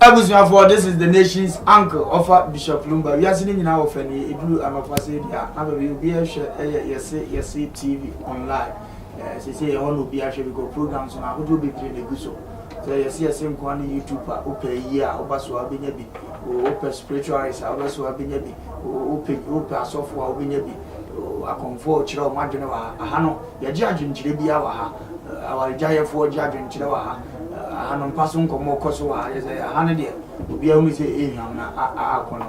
abusuafoɔ this is the nation's uncle ɔfa bishop lumba wiase no nyinaa wɔfa nie ɛduru anɔpa sɛ bi a na baabi obi ɛhwɛ ɛyɛ yɛse yɛse tv online sɛsɛ yɛhɔ na obi ahwɛ because programs no ahodoɔ bebree na ɛgu so Sɛ yɛse yɛse nkoa ne YouTube a wopɛ ayie a woba so a wobɛnya bi oh wopɛ spiritual eyes a wobɛ so a wobɛnya bi oh wopɛ wopɛ asɔfoɔ a wobɛnya bi oh akɔmfoɔ a ɔkyerɛ wɔn adwene wɔ ha aha no yɛgye adwenkyerɛ biara wɔ ha awaregyaeɛfoɔ gye adwenkyerɛ wɔ ha aha no mpa so nkɔmmɔ kɔ so wɔ ha yɛ sɛ aha no deɛ obiara hunu sɛ ɛhwam na aakɔ no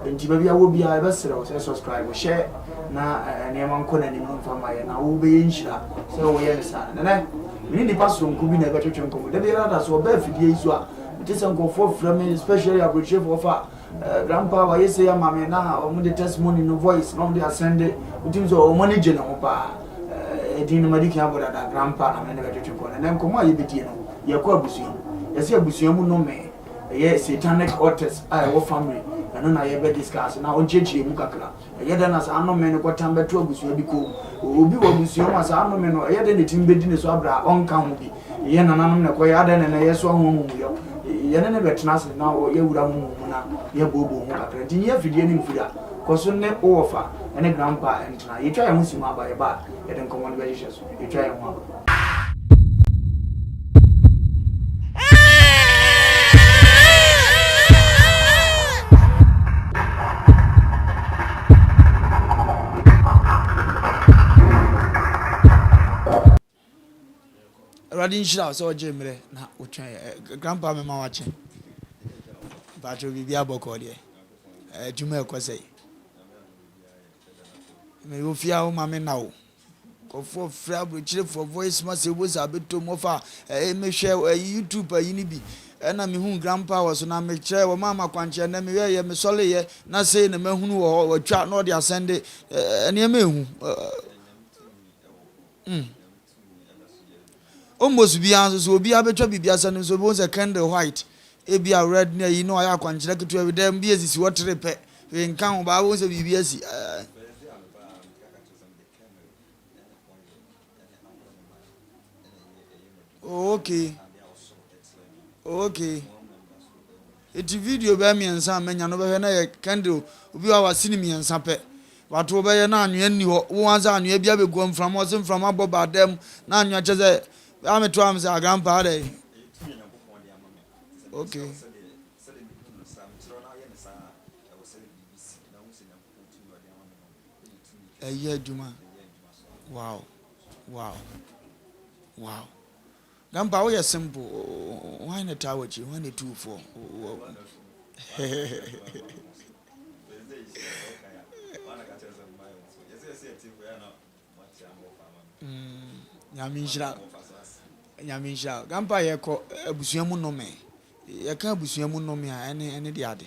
Enti baabi a wɔ biara yɛbɛsrɛ wo sɛ subscribe hyɛ na nneɛma nkɔ n'anim no mfa ma yɛn na wo bɛyɛ nhyira sɛ wo yɛ no saa. Nɛnɛ me ne nipa soronko bi na ɛbɛtwetwe nkɔmmɔ da biara da so ɔba afidie yi so a mete sɛ nkurɔfoɔ frɛ me especially aburokyerɛfoɔ fa eh, grandpa wayɛ sei ama me na wɔn de testimony no voice na wɔn de asɛnde wotim sɛ wɔn ani gye ne ho paa eh, ɛdin no madi kan abɔ dada grandpa na me ne bɛtwetwe nkɔmmɔ nɛnɛ nkɔmmɔ a yɛbɛdie no yɛkɔ abusua mu yɛsɛ abusua mu no me ɛyɛ satanic altars a ɛwɔ family ɛno na yɛbɛ discuss na ɔnkyerɛkyerɛ mu kakra ɛyɛ dɛ na saa anome no kɔtam bɛto abusua bi kɔn mu obi wɔ abusua mu a saa anome no ɛyɛ dɛ na ɛtumi bɛdi ne so abrɛ a ɔnka ho bi yɛ nananom na ɛkɔyɛ adɛn na ɛnɛ yɛsoa ho amumuyɔ yɛne ne bɛtena ase na yɛwura ho mu na yɛbooboo ho kakra nti nyɛ afidie ne mfiri a kɔ so ne wowɔfa ne grandpa ntena yɛtwa yɛn ho si mu aba yɛba a yɛde nkɔmmɔ no bɛhyehyɛ so Atwa yɛn ho aba. Awurade nhyira wo sɛ ɔgye mmerɛ na wotwɛn yɛ. Eh, grandpa mema wakye. Mpakyɛ biribi abɔkɔ deɛ. Adwuma eh, ɛkɔ sɛ. Mewɔ fie a woma me na o. Nkorɔfoɔ frɛ abrokyerefoɔ voice ma sɛ wobɔ saa bɛtɔ mu ɔfa ɛɛ mehwɛ ɛyi YouTube ayi no bi ɛna mehuu grandpa wɔ so na mekyerɛɛ wɔmaa me akwankyerɛ nɛ mewɛɛyɛ mesɔleeɛ na sei na mahunu wɔ hɔ watwa na ɔde asɛnde ɛɛ nneɛma ɛhu hmm almost biaa nso so obiaa bɛtwa biribi asɛnde nso wobɛhu sɛ candle white ebia red ne ayi na wayɛ akwankyerɛ ketewa bi dɛ bi ɛsisi hɔ tere pɛ hwee nka ho baa wobɛhu sɛ biribi asi ɛɛ. Oh okay. Oh okay. Eti video bɛyɛ mmiɛnsa a manya no bɛhwɛ na yɛ candle obi wa wasi ne mmiɛnsa pɛ. Wato bɛyɛ na anwea nni hɔ. Wo ansa anwea bi abɛgu mframa ɔse mframa bɔ ba dam na anwea kyɛ sɛ bɛa me to am sɛ agrampa adɛ. Okay. Ɛyɛ adwuma wow wow wow Dampa woyɛ simple why na taa wakyi why na tuu fɔ wow Nyame nhyira Nyame nhyira Dampa yɛkɔ abusua mu nome yɛka abusua mu nome a ɛne ɛne de ade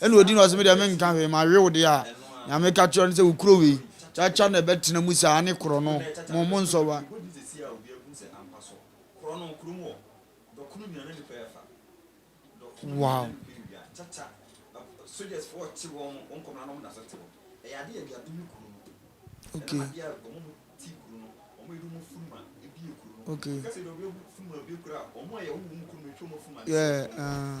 Ɛna odi na ɔse me deɛ menka hwee mawe wo deɛ a nea meka kyerɛ wo ne sɛ wo kuro wei kyakya na ɛbɛtena mu saa ne korɔno mo mo nsɔ wa. Wow. Okay. Okay. Yeah. Uh.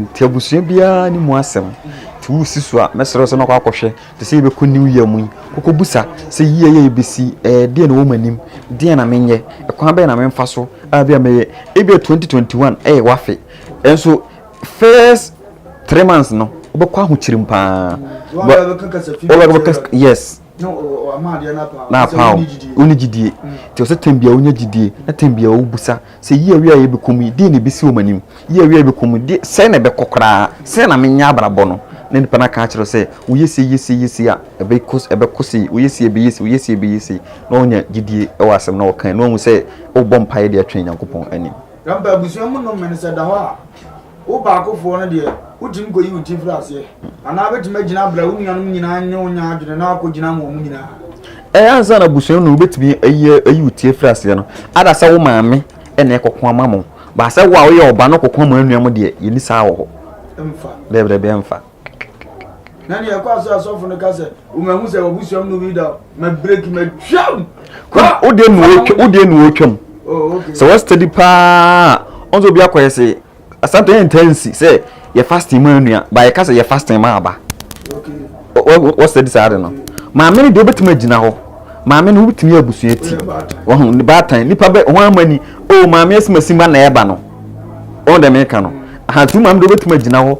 Nti abusua biara ne mu asɛm nti wosi so a mɛsrɛ wo sɛ mɛkɔ akɔhwɛ te sɛ yɛbɛkɔ new year mu yi kɔkɔbusa sɛ yie yɛ yɛbɛsi ɛɛ eh, deɛ na wɔn anim deɛ na menyɛ ɛkwan bɛyɛ na memfa so a bi a mɛyɛ ebia 2021 ɛyɛ wafe ɛnso first three months no wobɛkɔ ahokyerem paa wobɛkɔ yes na apaw wonni gyidie nti ɔsɛ tɛm bia wonya gyidie na tɛm bia wobusa sɛ yi awia a yɛbɛkɔ mu yi deɛ na ɛbɛsi wɔ m'anim yi awia a yɛbɛkɔ mu deɛ sɛ na ɛbɛkɔ koraa sɛ na menyɛ abrabɔ no na nipa no aka akyerɛ sɛ woyɛ sei yɛ sei yɛ sei a ɛbɛkɔ ɛbɛkɔ sei woyɛ sei ɛbɛyɛ sei woyɛ sei ɛbɛyɛ sei na wonya gyidie wɔ asɛm na wɔkan na wahu sɛ wobɔ mpaeɛ de atwɛn Nyankopɔn anim. Yɛmpa abusua mu no mmene sɛ da hɔ a. Wo baakofoɔ no deɛ, wotumi kɔyi wo tiri firi aseɛ, anaa wobɛtumi agyina abra wo nuanom nyinaa ne wɔn anya adwene na woakɔgyina ama wɔn nyinaa. Ɛyɛ ansa na abusua no na wobɛtumi ayi ayi wo tiri afiri aseɛ no, ada sɛ wo maame na ɛkɔko ama mo. Baa sɛ wo a woyɛ ɔba no kɔko ama anuanom deɛ, yɛnni saa wɔ hɔ. Ɛmfa. Daabi, daabi, ɛmfa. na nea ɛkɔ aso asɔfo no ka sɛ wɔmahu sɛ wɔbusua mu no bi da ma breki ma twam wodeɛ nu wɔtwam wodeɛ nu wɔtwam sɛ wɔ steady paa ɔn sɛ obi akɔyɛ se asante yɛ ntansi sɛ yɛ fasting ma nua ba yɛ ka sɛ yɛ fasting ma aba wɔ steady saa de no maame no deɛ wobɛtumi agyina hɔ maame no wobɛtumi yɛ abusua ti wɔho ne baatan nipa bɛ ho ama ni o oh, maame asimasi ma na ɛba no ɔn dɛ meka no ahantu maame deɛ wobɛtumi agyina hɔ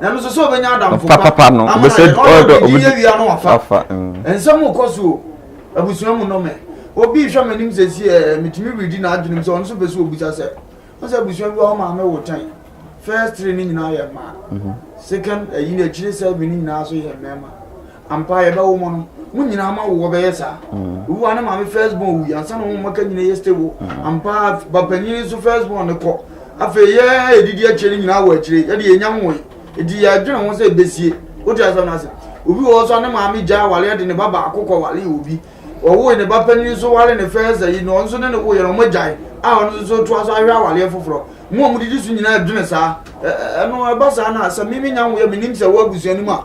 Ɔfa papa no, ɔbɛsɛ ɔdɔ obi di wafa. Nsɛm kɔ so o, abusua mu nnɔmɛ. Obi rehwɛ m'anim sɛsi ɛ, metumi redi n'adwenem sɛ ɔno nso pɛ sɛ obisa sɛ, wo sɛ abusua bi wɔ hɔ maame wo tɛn? First three no nyinaa yɛ mmaa. Second ayi no akyire seven no nyinaa nso yɛ mmarima. Ampa ara yɛbɛwo mo no mo nyinaa ama wo wɔbɛyɛ saa obi wa ne maame first born wuyi ansa na wɔn mmaka nyinaa yɛ stable ampa ba panyin nso first born ne kɔ afei yɛ edidi akyire ne nyinaa wɔ akyire yɛde yɛ nyam wɔn eti yɛ adwene ho sɛ ebesie o ti asɛm n'ase obi wɔ hɔ so ne maame gya awale de ne ba baako kɔ wale obi ɔwoe ne ba panyin nso wale ne first ayi na ɔno nso ne ne wo yɛ na wɔn agyae a ɔno nso to aso ahwɛ awale foforɔ mu a wɔn didi so nyinaa adwene saa ɛno ɛba saa na sɛ mimi nya wo yɛ menim sɛ wɔ abusua no mu a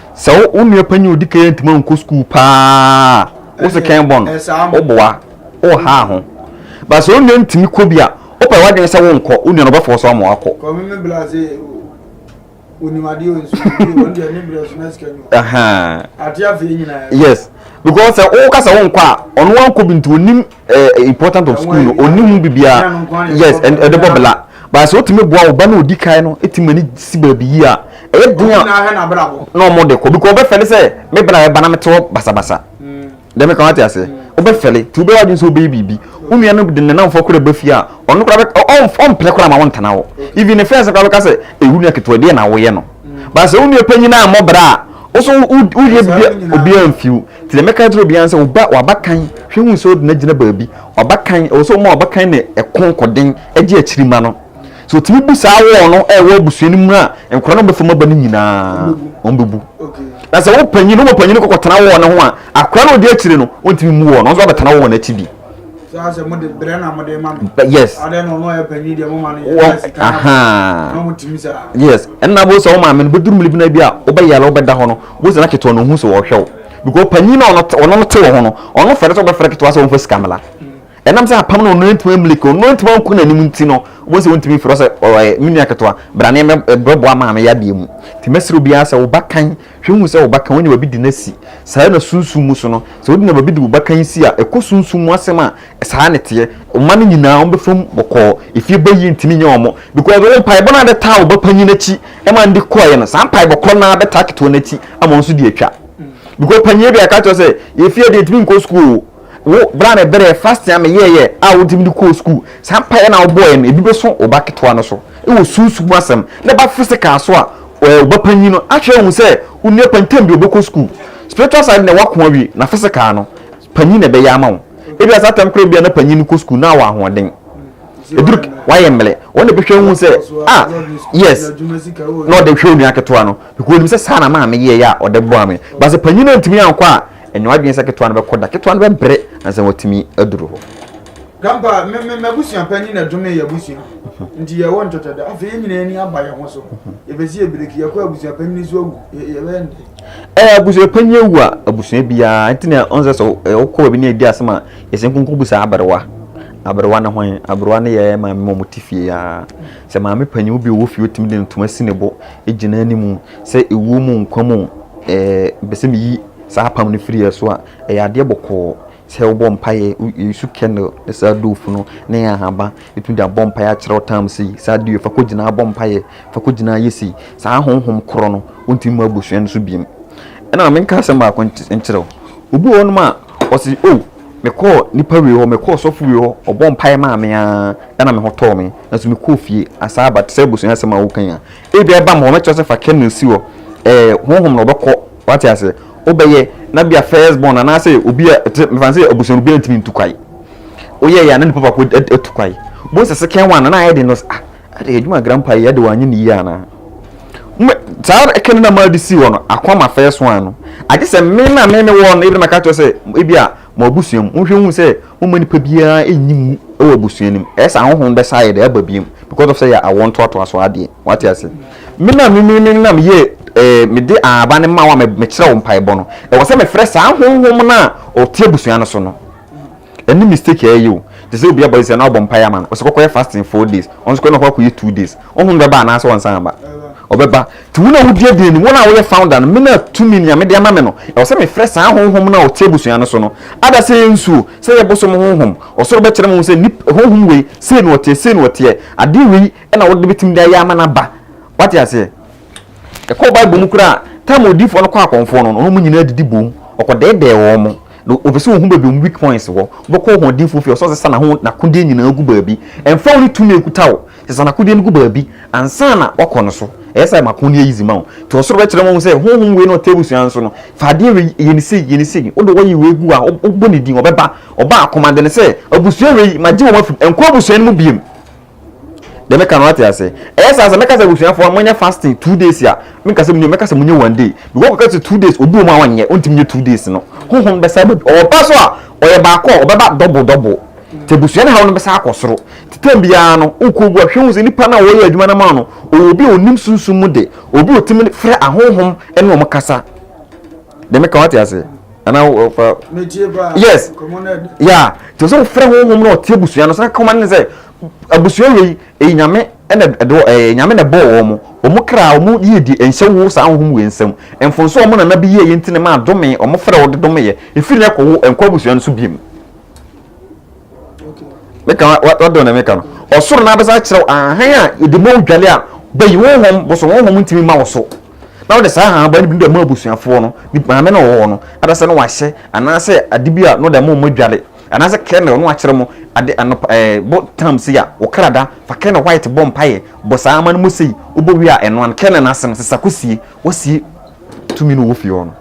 Sɛ wo wo nua panyin a odi kan yi antumi ankɔ sukuu paa a, wo se kɛn bɔ no, woboa, wohaa ho. But sɛ wo nua no tumi kɔ bi a, wopɛ w'adwene sɛ wonkɔ, wo nua no bɛfɔɔse wo ama woakɔ. Ɛhɛn. Yes, because sɛ woka sɛ wonkɔ a, ɔno ankɔ bi nti, onim. eh, important of school no ɔni ho biribiara yes ɛde bɔ bla but sɛ wotumi boa wo ba no ɔdi kan no ɛtumi ani si baabi yi a ɛyɛ den a na ɔmo de kɔ because ɔbɛfɛle sɛ me bra ɛba na mete hɔ basabasa dɛ meka wate ase wobɛfɛle nti wobɛyɛ adwene sɛ wobɛyɛ biribi wo nua no de ne namfoɔ kora ba fie a ɔno kora ɔmpene kora ma wontena hɔ even ne fɛn sɛ kora bɛka sɛ ɛwu nua ketewa deɛ na woyɛ no ba sɛ wo nua panyin a mmɔ bra a wo so woyɛ bibia obiara mfiw nti na mɛka kyerɛ obiara sɛ woba wabakan hwɛ hu sɛ ɔdina gyina baabi wabakan ɛwɔ sɛ woma wabakan ne ɛko nkɔden agye akyiri ma no so tumi bu saa wɔɔ no ɛwɔ abusua no mu a nkora no bɛfa mu aba no nyinaa wɔn bɛbu na sɛ wo panyin no wɔ panyin no kɔkɔtena wɔɔ no ho a akora no ɔde akyire no ɔntumi mu wɔɔ no nso abɛtena wɔɔ no akyi bi yes yes ɛnna bó sɛ ɔmo maame no bɛduru mmiri bi na bi a wobɛyɛ la wobɛda hɔ no bó sɛ na ketewa no ohun sɛ ɔhwɛ wo because panyin na ɔno ɔno no te wɔ ho no ɔno fɛrɛ sɛ ɔbɛfɛrɛ ketewa sɛ ɔnfa sika mla ɛnam sɛ apam na ɔno ntoma mmiri ko ɔno ntoma nko n'anim nti no bó sɛ ɔntumi fɛrɛ sɛ ɔɛ me nua ketewa brane mɛ brɛboa maame yadeɛ mu tìmɛsirɛ obiara sɛ ɔba kan Hwɛ hu sɛ wo baka wonya baabi de no asi. Saa ara na sunsum mu so no, sɛ wonya baabi de wo baka yi si a, ɛkɔ sunsum mu asɛm a, saa ara na ɛteɛ. Wo mma no nyinaa, wɔbɛfa mu bɔkɔɔ. Efie ba yi ntumi nyɛ wɔn, because wo mpaebɔ no a wode taa wo ba panyin no akyi ma no de kɔeɛ no, saa mpaebɔ korɔ no ara bɛtaa ketewa no akyi ama ɔno nso de atwa. Because panyin no bi a, yɛka kyerɛ wo sɛ, Efie deɛ, ntumi nkɔ sukuu o. Wo bere a mebrɛɛ fasting a meyɛeɛ a wode me de kɔɔ sukuu, saa mpaeɛ no a wobɔeɛ no, ebi bɛso wo ba ketewa no so wɔ sunsum mu asɛm, na ɛba physical so a, ɛɛ wo ba panyin no ahwɛ ahu sɛ wo nua panyin tam bi ɔbɛkɔ sukuu. Spiritual side deɛ woako awie, na physical no, panyin na ɛbɛyɛ ama wo. Ebia saa tam koraa bi a na panyin no kɔ sukuu na wɔ ahoɔden. Eduru wayɛ mmele, wɔn na ɛbɛhwɛ ahu sɛ ah yes, na ɔde hwɛ onua ketewa no, because onim sɛ saa na maame yɛeɛ a ɔde boa me. But sɛ panyin no antumi ankɔ a, Ɛnyɛ w'adwene sɛ ketewa no bɛkɔ da. Ketewa no bɛbere ansa na watumi aduru hɔ. Grandpa, me, me, m'abusua panyin na ɛdome yɛ abusua. Nti yɛwɔ ntwɛtwɛdɛ. Afei yɛn nyinaa ani aba yɛn ho so. Yɛpɛ sɛ yɛbreki. Yɛkɔ abusua panyin nso awu. Yɛ, yɛbɛyɛ ne dɛn? Ɛɛ, abusua panyin awu a, abusua biara. Nti na ɔnsɛ sɛ wokɔ baabi na edi asɛm a, yɛsɛ nkonko bu saa aberewa. Aberewa ne hwan? Aberewa ne yɛ maame ma wɔte fie aa. Sɛ maame panyin bi wɔ fie, wotumi de ntoma si ne bo gyina anim. Sɛ ɛwom mo nkwa mu mepɛ sɛ meyi saa apam no firi yɛn so a, ɛyɛ adeɛ bɔkɔɔ sɛ wobɔ mpaeɛ, wosu candle ne saa doofu no ne ahaba, wotumi de abɔ mpaeɛ akyerɛ wo tam sei, saa adeɛ wei fa kɔgyina bɔ mpaeɛ, fa kɔgyina yɛ sei. Saa honhom korɔ no, wontumi ma abusua no so biom. Ɛna menka asɛm baako nkyerɛ wo, obi wɔ hɔnom a ɔse o oh, mekɔɔ nipa wei hɔ, mekɔɔ sɔfo wei hɔ, ɔbɔ mpaeɛ maa me ara ɛna me ho tɔɔ me, nanso mekɔɔ fie asaa aba te sɛ abusua asɛm a woka yi a Ebia ɛba ma wɔbɛkyerɛ sɛ fa kernel si hɔ, ɛɛ, honhom na ɔbɛkɔ, wate ase, wobɛyɛ, na bia first born anaasɛ obi a, te, mefa no sɛ abusuanu biara ntumi ntu kwae. Woyɛɛ yɛ a na nipa baako atu kwae. Bohu sɛ second one na ayɛ den no, ah, ɛde adwuma grandpa yi, ɛde wanyɛ ne yie anaa? Mme, saa kernel na maa de si hɔ no, ako ama first one no. Agye sɛ me na me mewɔ no, ebi na maka kyerɛ sɛ, ebia, Mo abusua mu, monhwɛ nhu sɛ momma nipa biara nyi mu wɔ abusua no mu. Ɛyɛ saa honhom bɛsa ayɛ dɛ aba biom because of sɛ yɛ awoɔ ntoatoa so adeɛ. Wate ase? Me na me me me na me yɛ eh, me de aaba no ma wo a me me kyerɛ wo mpaebɔ no. Ɛwɔ sɛ me frɛ saa honhom no a ɔte abusua no so no. Ɛne mistake a ɛyɛ o. Te sɛ obi abɔ sɛ na ɔbɔ mpaeɛ ama no, ɔsɛ kɔkɔyɛ fasting four days, ɔno nso kɔ na ɔkɔ akɔyɛ two days. Honhom no bɛba anaasɛ ɔnsan aba? Ɔbɛba. Nti wo na wodi adi anim, wo na woyɛ founder no, me na tumi nea mede ama me no, ɛwɔ sɛ mefrɛ saa honhom no a ɔte abusua no so no, ada sɛ ɛnsuo, sɛ ɛyɛ bosom honhom, ɔsoro bɛkyerɛ mo sɛ nip, honhom wei, sei na ɔteɛ, sei na ɔteɛ, adeɛ wei na wode bɛtumi de ayɛ ama no aba. Wate aseɛ? Yɛkɔɔ Bible mu koraa a, time a odiyifoɔ no kɔɔ akɔmfoɔ no no, ɔne wɔn nyinaa didi boom, ɔkɔdɛɛdɛɛ wɔn, na ɔpɛ sɛ ɔhu baabi wɔn weak points wɔ, wobɛkɔ ɔhoɔdenfoɔ fie a, ɔsɛ ɔsesa n'aho, n'akodeɛ nyinaa gu baabi, ɛmfa wo ne tumi a ɛkuta wo, Sesa n'akodeɛ no gu baabi ansa na woakɔ no so. Ɛyɛ saa a, ɛma ko no yɛ easy ma wo. Nti ɔsoro bɛkyerɛ ma wo sɛ honhom wei na ɔte abusua no so no, fa adeɛ wei yɛ no sei, yɛ no sei. Wode oil wei gu a, wobɔ ne din, ɔbɛba. Ɔba a, commande no sɛ, Abusua wei, magye wɔn afi mu. Ɛnkɔ abusua no mu bio. Deɛ meka no wate aseɛ? Ɛyɛ saa a, sɛ mɛka sɛ abusuafoɔ monyɛ fasting two days a, menka sɛ monyɛ, mɛka sɛ monyɛ one day. Because wokɔka sɛ two days, obi wɔ mu a ɔnyɛ, ɔntumi nyɛ two days no. Honhom no bɛsan aba bio. Ɔba so a, ɔyɛ baako a, ɔbɛba double double. nti abusua no haw no bɛsan akɔ soro nti tam biara no wokɔ obu ahwɛ hu sɛ nipa no a wɔyɛ adwuma no ma no ɔwɔ obi a ɔnim sunsum mu de obi ɔtumi frɛ ahonhom ne wɔn kasa de meka wate ase anaa wɔfa yes ya nti sɛ wofrɛ honhom na ɔte abusua no sɛ kɔma ne sɛ abusua wei ɛyi nyame ɛna ɛde ɛɛ nyame na ɛbɔɔ wɔn wɔn kra wɔn yie di nhyɛ wo saa wɔn mu nsam mfonso wɔn nana bi yie yɛ nti na ma adome wɔn fɛrɛ wɔde dome yɛ efiri na ɛkɔ wo nkɔ abusua no so biem. meka wadɔ na meka no ɔsoro na abɛsa kyerɛw ahan a yɛde ma odwale a bɛyi honhom bosom honhom ntumi ma wo so na wode saa ahan ba no bi de ma abusuafoɔ no ne maame no wɔ hɔ no adasɛ no wahyɛ anaasɛ ade bi a no de ma ɔmo adwale anaasɛ kɛnɛ no akyerɛ mo ade anɔpa ɛɛ bɔ tam se a wɔ krada fa kɛnɛ white bɔ mpaeɛ bɔ saa ama no mu sei wobɔ wie a ɛnoa no kɛnɛ no ase no sesa kɔsie wasie tumi no wɔ fie hɔ no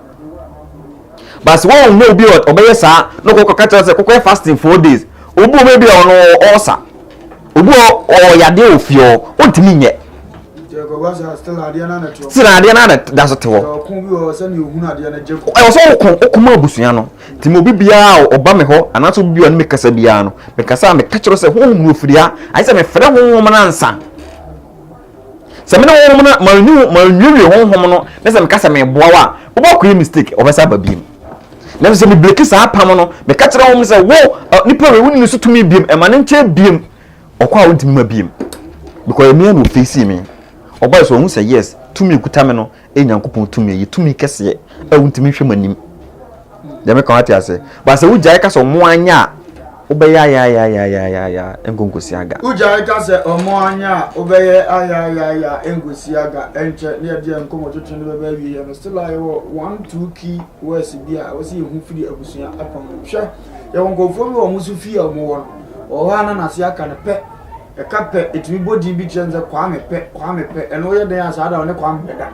but sɛ wɔn mu obi a ɔbɛyɛ saa na ɔkɔ kɔka kyerɛ sɛ kɔkɔyɛ fasting four days obi wɔ hɔ ebi a ɔno ɔɔsa obi wɔ ɔwɔ yadeɛ wɔ fie hɔ ɔntumi nyɛ sena adeɛ no ana da so te hɔ ɛwɔ sɛ woko wokoma abusua no nti ma obi biara a ɔba me hɔ anaasɛ obi biara no mekasa biara no mekasa a meka kyerɛ sɛ honhom no ɔfiri ha ayɛ sɛ mefrɛ honhom no ansa Sɛ mene honhom no a manni ho manwiewie honhom no na sɛ meka sɛ meboa wo a wobɔ koe mistake wɔbɛsa aba biem nanso sɛ mebreki saa apam no meka kyerɛ honhom no sɛ wo nipa wei wonni ne so tumi biem ɛma ne nkyɛn biem ɔkɔ a wontumi ma biem because ɛmea na ofeesi me ɔbae so ɔhu sɛ yes tumi kuta me no Ɛyɛ Nyankopɔn tumi, ɛyɛ tumi kɛseɛ a wontumi nhwɛ mu anim. Deɛ meka wate ase. Ba sɛ wogyae ka sɛ ɔmo anyɛ a, wobɛyɛ ayaayaayaayaaya ɛnkɔnkɔsi aga. Wogyae ka sɛ ɔmo anyɛ a, wobɛyɛ ayaayaayaayaa ɛnkɔsi aga. Ɛnkyɛ ne yɛde yɛn nkɔmɔtwetwe no bɛba awieɛ. No still a yɛwɔ one two key words bi a ɛwɔ sɛ yɛhu firi abusua apam no mu. Hwɛ, yɛwɔ nkorɔfoɔ bi wɔ ɔmo so fie a ɔmo wɔ no, ɔwɔ hɔ a na n'ase aka no pɛ. Ɛka pɛ, ɛtumi bɔ din bi kyerɛ no sɛ Kwame pɛ, Kwame pɛ. Ɛno woyɛ dɛn a saa da ɔne Kwame bɛda.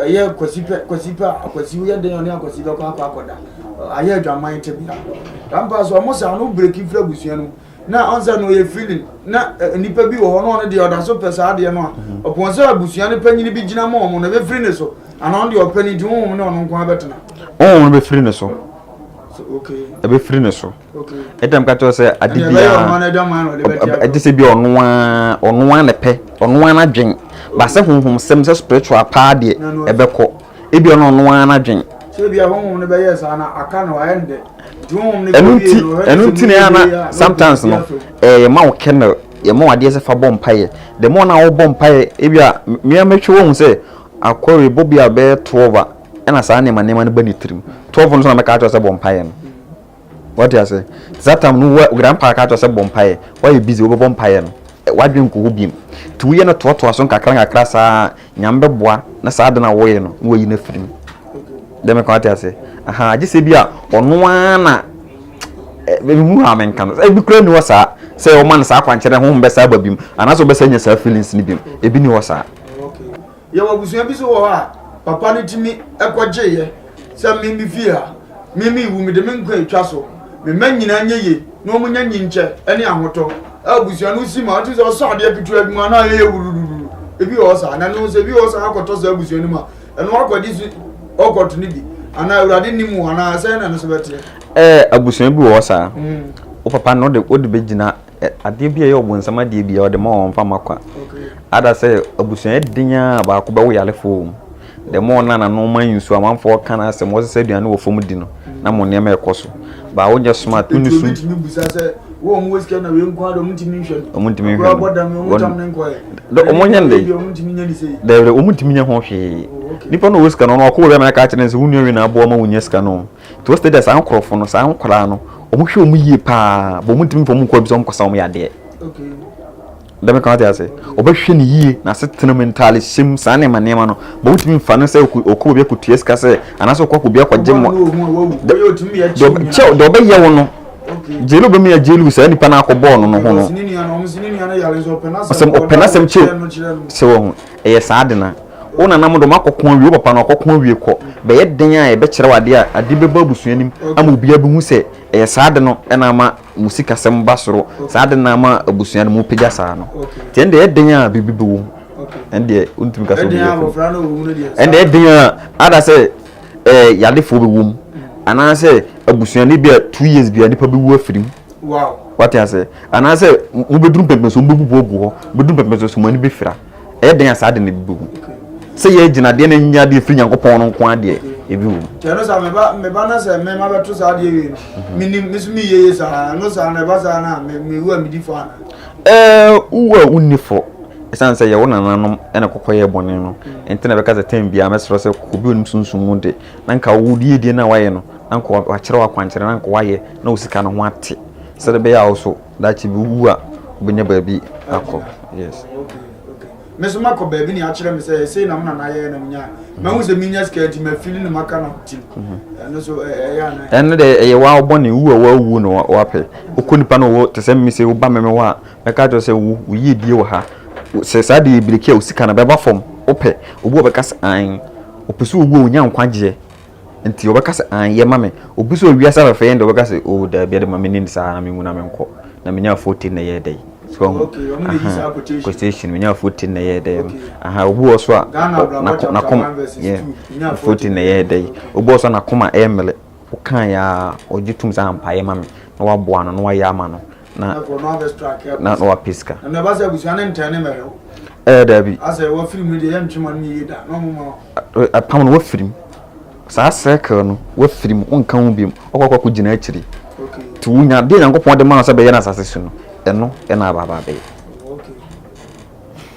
Ɛyɛ Kwasi pɛ, Kwasi pɛ a Akwasi woyɛ dɛn ɔne Akwasi bɛkɔ akɔ akɔda. Ayɛ adwaman tebea. Tampa so ɔmo saa no breki firi abusua no na ɔnsɛ no ɔyɛ feeling na nipa bi wɔ hɔ na ɔno deɛ ɔda so pɛ saa adeɛ no a ɔpɔn sɛ abusua no panyini bi gyina ma ɔmo na ɛbɛfiri ne so anaa ɔno deɛ ɔpɛ ne nti honhom ne ɔno nko abɛtena. Honhom no bɛfiri ne so. Ɛbɛfiri ne so. ɛdɛm ka kyerɛ sɛ ade biara ɛde sɛ bi ɔno ara ɔno ara na pɛ ɔno ara n'adwen ba sɛ honhom sɛm sɛ spiritual paa deɛ ɛbɛkɔ ebi ɔno ɔno ara n'adwen. sebi ahonhom no bɛyɛ saa na aka no ayɛ ndɛ ɛnu ti ɛnu ti na yana sometimes no ɛɛ yɛ ma wo kɛnɛ yɛ ma wo adeɛ sɛ fa bɔ mpa yɛ the more na wɔbɔ mpa yɛ ebi a mmea mɛtwi wɔn sɛ akɔre bɔ bi a bɛyɛ twelve a ɛna saa nneɛma nneɛma no bɛ ne tirim twelve no so na mɛka akyerɛ sɛ bɔ mpa yɛ no. Wate ase? Nti saa tam no wo grandpa aka akyerɛ sɛ bɔ mpaeɛ, woayɛ busy, wobɛbɔ mpaeɛ no, w'adwene nkɔ hɔ biom. Nti woyɛ no toatoa so nkakra nkakra saa a, Nyame bɛboa na saa ade no a woyɛ no na wayi no afiri mu. Deɛ meka wate ase? Ahaa, gye sɛ bi a ɔno ara na mehu ha menka no, ebi kura ni hɔ saa sɛ wɔma no saa akwankyerɛ honhom bɛsa aba biom anaasɛ wɔbɛsa nya saa feelings no biom, ebi ni hɔ saa. Yɛwɔ abusua bi so wɔ hɔ a papa no tumi kɔgyeeɛ sɛ me me fie ha, me me wu mede me nkwa atwa so, me mma nyinaa nyɛ yie na wɔn nya nyinkyɛ ne ahotɔ a abusua no si ma ɔte sɛ ɔsɔ adeɛ ketewa bi mu anaa yɛyɛ wurururu ebi wɔ hɔ saa na no sɛ ebi wɔ hɔ saa akɔtɔ saa abusua no mu a ɛno akɔgye so ɔkɔto no bi anaa awurade nim wɔ anaa sɛ na no so bɛteɛ. Ɛɛ abusua bi wɔ hɔ saa mm. wo papa no wode bɛgyina adeɛ bi a ɛyɛ ɔbonsam adeɛ bi a ɔde ma wɔn mfa ma kwa ada sɛ abusua den a baako bɛwo yarefoɔ mu dɛm wɔn na n'ano ma nsuo amanfoɔ ka no asɛm wɔsesa aduane wɔ fam di no na mo nneɛma ɛkɔ so baa wonyɛ smart wonni so wɔn wɔ sika na wei nko ara wɔn ntumi nhwɛ no wɔn ntumi nhwɛ no wɔn dam wɔn tam ne nkɔɛ wɔn nyɛ ne wɔn ntumi nyɛ ne sei dɛbɛ wɔn ntumi nyɛ ho hwee nipa na ɔwɔ sika no ɔno ɔkɔ wɔ bɛma ɛka kyerɛ ne sɛ wɔn nua wei na aboa ma wɔn nyɛ sika no Nti wɔsɛ dɛ saa nkorɔfo no, saa nkwadaa no, wɔhwɛ wɔn yie pa ara, but wɔntumi mfa wɔn nkɔ baabi sɛ wɔnkɔsa wɔn yadeɛ. Dɛ meka wate ase, wɔbɛhwɛ no yie, n'asetena mu, ntaadehyɛ mu, saa nneɛma nneɛma no, but wontumi mfa no sɛ ɔkɔ ɔkɔ baabi akɔtua sika sɛ, anaasɛ ɔkɔ akɔbi akɔgye mmoa. Kyɛ deɛ ɔbɛyɛ wo no, gyeli ɔbɛma yɛ gyeli wo saa nipa no akɔbɔɔ no no ho no. Ɔsɛm ɔpɛ n'asɛm kyɛw sɛ wɔn ho, ɛyɛ saa de na. Wo nananom de wɔakɔko awie, wo papa no wakɔko awie kɔ. Bɛyɛ dɛn a yɛbɛkyerɛ wo ade a ade bɛba abusua no mu ama obiara abehu sɛ ɛyɛ saa ade no na ama mo sikasɛm ba soro, saa ade no na ama abusua no mopagya saa no? Nti ɛnde ɛyɛ dɛn a biribi bɛwom? Ɛndeɛ wontumi ka sɛ obi yɛ fam. Ɛnde ɛyɛ dɛn a ada sɛ ɛɛ yadefoɔ bɛwom anaasɛ abusua no bi a two years bi a nipa bɛwu afiri mu. Wate aseɛ anaasɛ mobɛduru mpɛmpɛnso mobɛbubu agu hɔ, mobɛduru mpɛmpɛnso so mo ani bɛfira. Ɛyɛ dɛn a saa ade no bi bɛwom? Sɛ yɛn agyinadeɛ na ɛnyɛ adeɛ firi Nyankopɔn no nko ara deɛ, ebi wom. Nti ɛno saa meba meba na sɛ mema bɛto saa adeɛ wei no, mhm. menim me so meyɛ yie saa, ɛno saa na ɛba saa no a mewu a medi fɔ ana? Ɛɛ wowu a wonni fɔ ɛsiane sɛ yɛwo nananom na kɔkɔ yɛ bɔne no mhm. nti na bɛka sɛ tɛm biara mɛserɛ sɛ obi onim sunsum mu de na nka wo die die no a wayɛ no na nka wakyerɛ wo akwankyerɛ na nka wayɛ na wo sika no ho ate sɛde bɛyɛ a wo so Daakye bi wu a wobɛnya baabi akɔ yes. Oh okay okay me so makɔ baabi ne akyerɛ me sɛ sei na mo nana yɛɛ na menya mahu sɛ menya sika nti mafili no maka no tim ɛno so ɛyɛ ana ɛno dɛ ɛyɛ wa wobɔ ne wu a wawu no wapɛ wokɔ nipa no wɔ te sɛ me sɛ woba me me hɔ a mɛka kyerɛ sɛ wo woyie die wɔ ha sɛ saa de yɛ biriki a wosika no bɛba fam wopɛ obi a ɔbɛka sɛ an ɔpɛ sɛ owu a ɔnya nkwagyeɛ Nti wɔbɛka sɛ anyɛ ma me. Obi sɛ owiase afɛfɛ yɛ no deɛ wɔbɛka sɛ oh daabi ɛde ma me nim saa na me nwu na me nkɔ na menya afote na ɛyɛ dɛ yi. So wɔn ho aha quotation menya afote na ɛyɛ dɛ no aha obi wɔ so a nako nakom yɛ afote na ɛyɛ dɛ yi obi wɔ so a nakoma ɛmele wokan ya ɔgye tum sɛ ampa yɛ ma me na waboa no na wayɛ ama no na na wapɛ sika. Ɛɛ dabi. Apam no wafiri mu saa circle no wafiri mu wonka ho biom ɔkɔkɔ akɔ gyina akyiri nti wonya deɛ nyankopɔn de ma no sɛ bɛyɛ no asase so no ɛno ɛna abaaba bɛyɛ.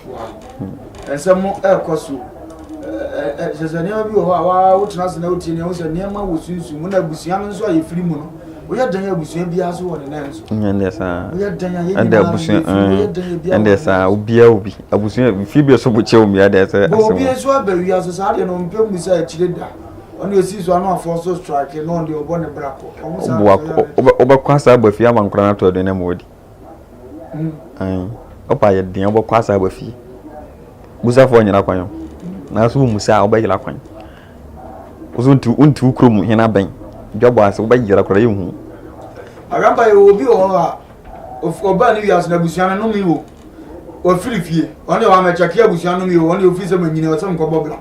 Wow. Nsɛm no ɛrekɔ so. Ɛsɛ sɛ nneɛma bi wɔ hɔ a waa wotena ase na wotie nea wosɛ nneɛma wɔ sunsum mu na abusua no nso a yɛfiri mu no woyɛ dɛn abusua biara so wɔ ne nan so. Ɛndeɛ saa. Woyɛ dɛn a yɛn nyinaa yɛfiri mu woyɛ dɛn ebi a. Ɛndeɛ saa obiara obi abusua fie bi so bo kyɛ omi adeɛ sɛ asɛm. Bɔ obi nso aba wia so saa deɛ no mpɛ mu sɛ akyire da. Ɔne esi so ano afɔ so strike no ɔde ɔbɔ ne bra kɔ. Ɔmo saa. Wobɛkɔ asa aba fie ama nkora no ato aduane ama wadi. Ae, ɔba a yɛde yɛn bɔkɔ asa aba fie. Busafoɔ nyera kwan o, nanso wommisa a wobɛyera kwan. Wo so wonte wonte wo kurom hene abɛn. Dwabɔ ase wobɛyera koraa yɛnhu. Arampa yɛ obi wɔ hɔ a of- ɔbaa ne wiase no abusua no nome o wafiri fie ɔne wamɛkyɛke abusua nome o ɔne ofiri sɛ manyini ɔsɛ mekɔbɔ bra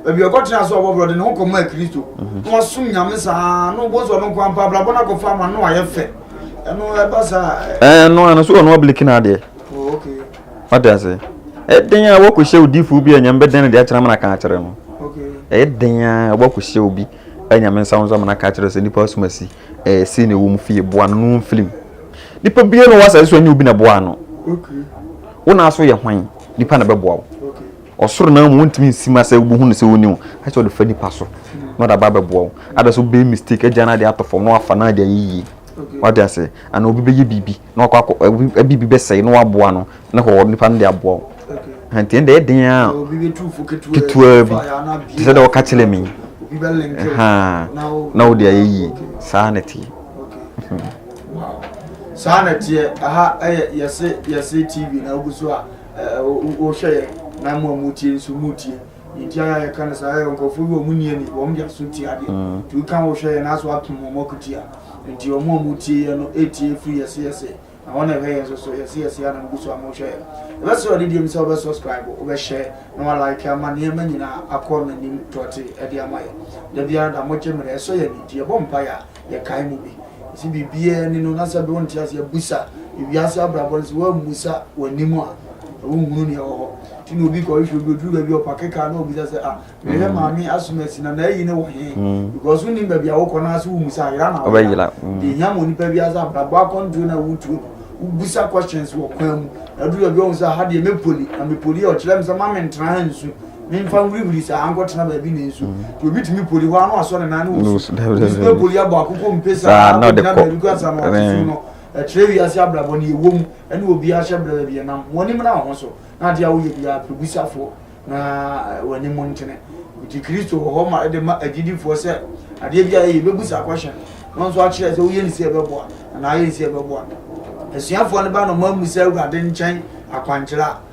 baabi a ɔkɔtena so ɔbɔ bra ɔde ne ho kɔma kristo na wasom nyame saa na wobɔ sɛ ɔno nko ampa abrabɔ no akɔfa ama no ayɛ fɛ ɛno ɛba saa ɛɛ no ano so ɔno abiliki na adeɛ ɔde ase ɛden a wɔkɔhyɛ odiifoɔ bi a nyame bɛdɛn no deɛ akyerɛ amana ka akyerɛ no ɛden a wɔkɔhyɛ obi a nyame nsa wo nso amana ka akyerɛ sɛ nipa asoma si ɛɛ si na ɛwɔ mu fie boa no no mfilim nipa bia na ɔwɔ asase so ɛnyɛ obi na boa no wo na aso yɛ hwan nipa na bɛboa wo Ɔsoro no ara mu wontumi nsi ma sɛ wobɛhu no sɛ ɔnni wo. Ayɛ sɛ ɔde fa nipa so na ɔde aba abɛboa wo. Ada sɛ wobɛyɛ mistake agya no adeɛ ato fam na wafa no adeɛ ayɛ yie. Wate aseɛ? Anaa obi bɛyɛ biribi na wakɔ akɔ obi biribi bɛsɛe na waboa no na hɔ nipa no de aboa wo. Nti ɛnna ɛyɛ den ara ketewaa bi te sɛ deɛ wɔka kyerɛ me na wode ayɛ yie. Saa na ɛteɛ. Saa na ɛteɛ. Aha yɛ yɛse yɛse TV na wogu so a wohwɛ yɛn na mo a motie nso motie nti a yɛka no saa yɛ nkurɔfoɔ bi wɔn nni ani wɔn de aso tie adeɛ mm. nti woka wohwɛ yɛn aso atom wɔn akutia nti wɔn a motie yɛn no ɛtie firi yɛse yɛse na wɔn ɛhwɛ yɛn nso so yɛse yɛse a na mogu so a mohwɛ yɛn ɛbɛsɛ ɔde deɛ mu sɛ wobɛ subscribe wobɛhyɛ na walike ama nneɛma nyinaa akɔ n'anim tɔte ɛde ama yɛ da biara da mogye mmerɛ ɛsɔ yɛn nti yɛbɔ mpaeɛ a yɛkae mu bi. Ntsi biribiara nyi no na sɛ ber wo ntseasee busa wiase abrabɔ no, sɛ woammisa w'anim a wonnhunu nea ɔwɔ hɔ. Ntsi na obi kɔhwehwɛ obi, odur baabi a ɔpake kaar na obisa sɛ, Ah, mehwɛ Maame Asumasi na n'ayi no wɔ hen? Because wonnyim baabi a wokɔ no ara sɛ wohu sɛ ayera na woyera. Dza ehia ma onipa biara sɛ abrabɔ akɔndzow no a worutuo no, wobusa questions wɔ kwan mu. Na edur baabi a wohu sɛ aha deɛ mepoli, na mepoli a ɔkyerɛ me sɛ mma menntsena ha nnsu. Memfa nhurihuri saa nkɔtena baabi na nsu deɛ obi tumi poli hɔ a na wasɔ ne nan ne wɔ su obi so bɛ poli abɔ akokɔ mpe saa na ɔde kɔ baabi kura sa na ɔte so no ɛkyerɛ wiase abrabɔ ne ɛwɔ mu ɛne obi ahyɛ brɛ baabi ɛnam wɔn anim na wɔn so na adeɛ a woyɛ biara pɛbusafoɔ na wɔn anim ntene nti kristo wɔ hɔ ma ɛde ma agyidifoɔ sɛ adeɛ bi a ɛyɛ bɛbusa akɔhyɛ no nso akyerɛ sɛ woyɛ ne sɛ ɛbɛboa anaa ayɛ ne sɛ ɛbɛboa asuafoɔ no ba no ma mu sɛ awurade nkyɛn akwankyerɛ a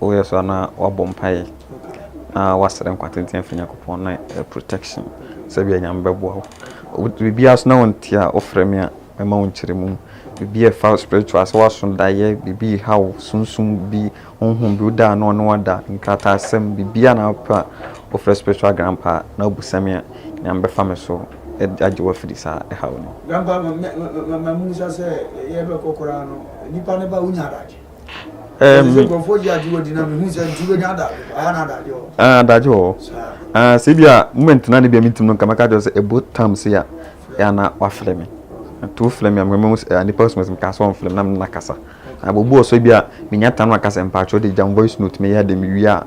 Woyɛ so a na wabɔ mpaeɛ na wasrɛ nkwa tenten afiri Nyankopɔn na eh, protection sɛ bia Nyame bɛboa wo. Biribiara so na wonte a wofrɛ me a mɛma wo nkyerɛmu. Biribi a ɛfa spiritual sɛ woaso daeɛ, biribi reha wo, sunsum bi, honhom bi woda a na ɔne wada, nkrataasɛm, biribiara na wopɛ a wofrɛ spiritual grandpa a na wobisa me a Nyame bɛfa me so agye wo afiri saa ɛhaw no. Grandpa, ma ma ma ma mumisa sɛ yɛbɛkɔ koraa no, nipa no ba wonya adagye. Ɛmi. Nkurɔfoɔ gye agye wadi na mehu sɛ nti wobɛnya ada aha na adagye wɔ hɔ. Ah, adagye wɔ hɔ. Ah, sɛ bi a moment na ne bi a mentim no nka mɛka kyerɛ sɛ ɛbo tam se a ɛa na wafrɛ me. Nti wofrɛ me a mehwɛ mehu sɛ nipa sum sɛ meka sɛ ɔmfrɛ me na mena kasa. Abobu wɔ so bi a menya tam na kasa mpakyɛw de gya voice note meyɛ de mewie a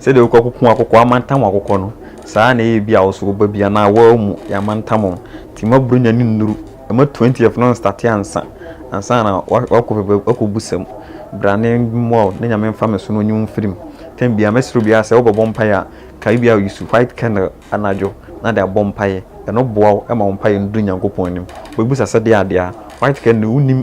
Sɛdeɛ wokɔ koko akokɔ amantam akokɔ no, saa na ɛyɛ bi a wo so wo ba bi anaa wo ara mu yɛ amantam o. Nti mma Buronya no nnuru, mma twentieth no nstate ansa, ansa na woakɔ baabi akɔbu sa mu. Bra na mmoa wo na Nyame mfa me so na ɔnyi wo mfiri mu. Time biara mɛsrɛ obiara sɛ wobɛbɔ mpaeɛ a, kae bi a use white candle anadwo na de abɔ mpaeɛ. Ɛno boa wo ma wo mpaeɛ no duru Nyankopɔn anim. Wobɛbu sa sɛ deɛ adeɛ a, white candle wonim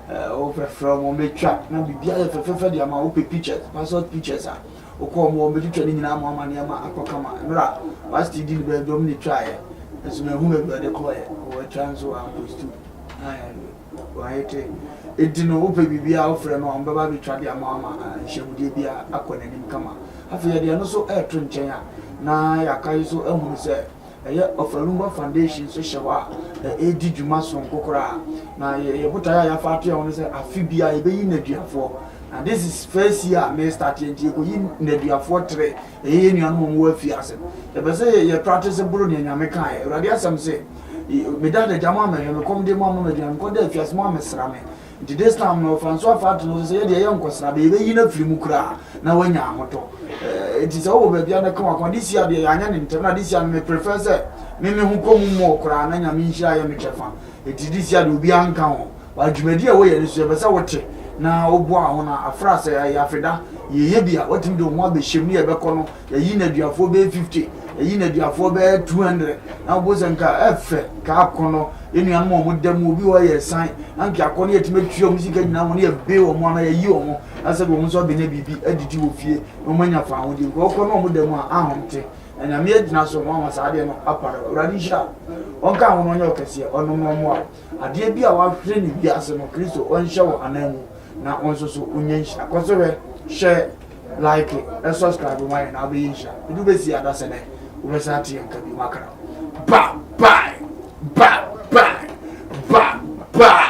Eh wo fɛfrɛ ɔmo bɛtwa na biribi ayɛ fɛfɛfɛ de ama wo pɛ pictures passport pictures a wokɔ ɔmo ɔmo bɛtwitwa ne nyinaa ama ɔma nneɛma akɔ kama mmerɛ a pastor di ne baabi ɔmo na ɛtwaeɛ nso mahu baabi ɔde kɔɔyɛ wɔatwa nso wɔ ampostu wɔayɛte ɛti no wopɛ biribi a wofrɛ no a ɔmo bɛba bɛtwa de ama ama nhyɛmudeɛ bi a akɔ n'anim kama afei yɛde ɛno so ɛɛto nkyɛn a na yɛaka yi so ahunu sɛ Ɛyɛ Ofalumba Foundation nso hyɛ hɔ a ɛredi dwuma soronko koraa. Na yɛn botae a yɛafa ato yɛn ho ne sɛ afe biara yɛbɛyi nneduafoɔ. Na this is first year a merestate nti yɛkɔyi nneduafoɔ tere. Ɛyɛ yɛn nuanom a wɔwɔ afiase. Yɛpɛ sɛ yɛ yɛ practice boro nea Nyame kaeɛ. Awurade asɛm se, Meda adagya moammɛhwɛ me, kɔm de moamma me aduane, mekɔda afiase moammɛsra me. Nti this time no Francois fa ato ne ho so sɛ yɛ deɛ yɛ nkɔ sraba, yɛbɛyi no afiri mu koraa na wanya ahotɔ. Eh, nti sɛ wowɔ baabi a na ka w'akoma. This year deɛ yɛanyɛ no ntɛm na this year no me prefer sɛ me me ho kɔ mu more koraa na Nyame nhyira yɛ me kyɛfa. Nti this year deɛ obiara nka ho. But dwumadi a woyɛ no so yɛpɛ sɛ wote na woboa ho na afra sɛ ɛyɛ afeda yɛyɛ bi a woatumi de wo ho abɛhyem ne yɛbɛkɔ no yɛyi nneduafoɔ bɛyɛ fifty yɛyi nneduafoɔ bɛyɛ two hundred na wɔbɔ sɛ nka ɛfɛ nka akɔnɔ enuanom a wɔn da mu obi wɔ yɛ san na nka akɔnɔ yɛtumi atua wɔn sika nyinaa wɔn yɛ be wɔn ama yɛyi wɔn na sɛ de wɔn nso abɛnya biribi adidi wɔ fie na wɔn anya faaho deɛ nka ɔkɔ na wɔn da mu a ahom te na nyame agyina so na wɔn saa adeɛ no apara awurade nhyira wɔn ka wɔn ɔnyɛ ɔkɛseɛ ɔnom na ɔmoa adeɛ bi a wɔahwere ne wiase no kristo ɔnhyɛ wɔn anan mu na wɔn nso so wɔnya nhyira kɔ so hwɛ hyɛ Like na subscribe ma yɛn na abɛyɛ nhyira. Edu besi adasa dɛ wobɛsan ate yɛn nka bio makra. Ba bye ba bye ba bye.